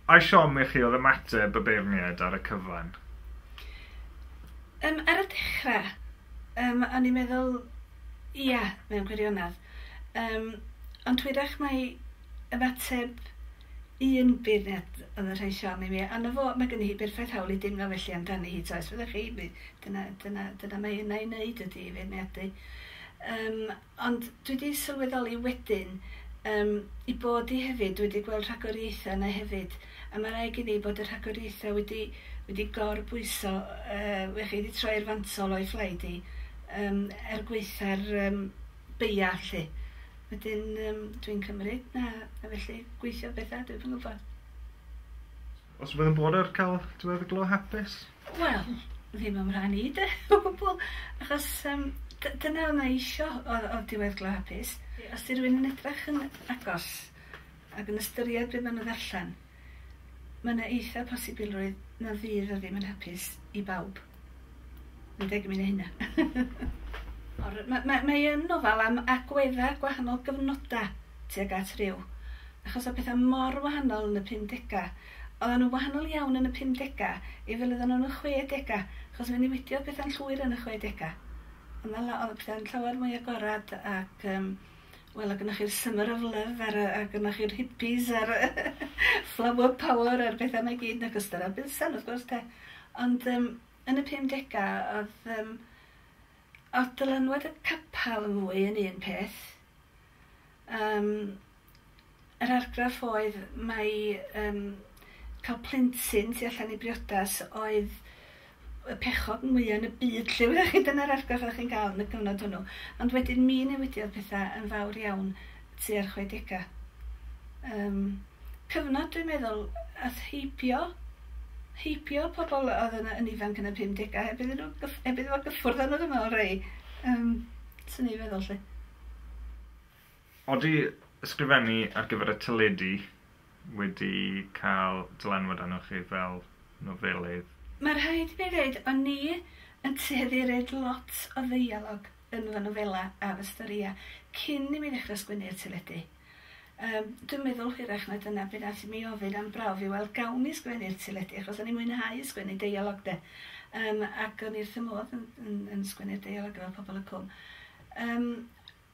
Ai siom i chi oedd ymateb y beirniaid ar y cyfan? Yym, ar y dechre, yym, o'n i'n meddwl, ia, mewn gwirionedd. Yym, ond hwyrach mai ymateb un beirniad oedd yn rhoi siom i mi, a 'na fo, mae gynni hi berffaith hawl i deimlo felly amdani hi, t'o', os fyddech chi, mi, dyna, dyna, dyna mae yna i wneud ydi i feirniadu. Yym. Ond dwi 'di sylweddoli wedyn yym 'i bod 'i hefyd, dwi 'di gweld rhagoriaetha' yna hefyd, a ma' raid gen i bod y rhagoriaetha' wedi wedi gor-bwyso yy wech i 'di troi i'r fantol o'i phlaid 'i yym er gwaetha'r yym beia' 'lly. Wedyn yym dwi'n cymryd na na felly gweithio betha', dwi'm yn gwbo. Os bydd yn bod ar ca'l t'mod y glo hapus? Wel, ddim o'm rhan i 'de, o gwbwl, achos yym dy- dyna o' 'na isio o o diwedd glo hapus. Os 'di rywun yn edrach yn agos ag yn ystyried be' ma' nw'n ddarllen, ma' 'na eitha posibilrwydd na fydd o ddim yn hapus i bawb. Ma'n deg i mi neu' hynna. Or- ma' ma' mae yn nofel am agwedda gwahanol gyfnoda tuag at ryw, achos o' petha mor wahanol yn y pum dega, Oeddan nhw'n wahanol iawn yn y pumdegau i fel oeddan nhw yn y chwedegau, achos fe newidiodd pethau'n llwyr yn y chwedegau. Oedd 'na la- oedd y pethau'n llawer mwy agorad ac yym wel oedd gynnoch chi'r Summer of Love a'r yy a gynnoch chi'r hippies a'r flower power a'r pethau 'ma i gyd yn ogystal â'r Bilsen wrth gwrs de. Ond yym yn y pumdegau oedd yym oedd dylanwad y capel yn fwy yn un peth. Yym yr argraff oedd mai yym ca'l plentyn tu allan i briodas oedd y pechod mwya yn y byd 'lly wyddoch chi, dyna'r argraff oddech chi'n ga'l yn y cyfnod hwnnw. Ond wedyn mi newidiodd petha yn fawr iawn tua'r chwedega. Yym cyfnod dwi'n meddwl ath heibio heibio pobol o'dd yn y yn ifanc yn y pumdega heb iddyn nw gyff- heb iddo fo gyffwrdd â nw dwi me'wl rhei. Yym swn i feddwl 'lly. Odi ysgrifennu ar gyfer y teledu wedi cael dylanwad arnoch chi fel nofelydd? Mae rhaid i mi ddeud, o'n i yn tueddu i roid lot o ddeialog yn fy nofelau a fy storïau cyn i mi ddechrau sgwennu i'r teledu. Yym dwi'n meddwl hwyrach na dyna be nath i mi ofyn am brawf i weld gawn i sgwennu'r teledu achos o'n i'n mwynhau sgwennu deialog de. Yym ac o'n i wrth fy modd yn yn yn sgwennu'r deialog efo Pobol y Cwm. Yym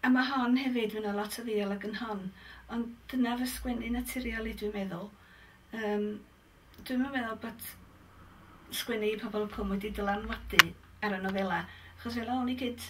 a ma' hon hefyd fy' 'na lot o ddeialog yn hon ond dyna fy sgwennu naturiol i dwi'n meddwl. Yym dwi'm yn meddwl bod sgwennu i Pobol y Cwm wedi dylanwadu ar y nofela achos fela o'n i cynt.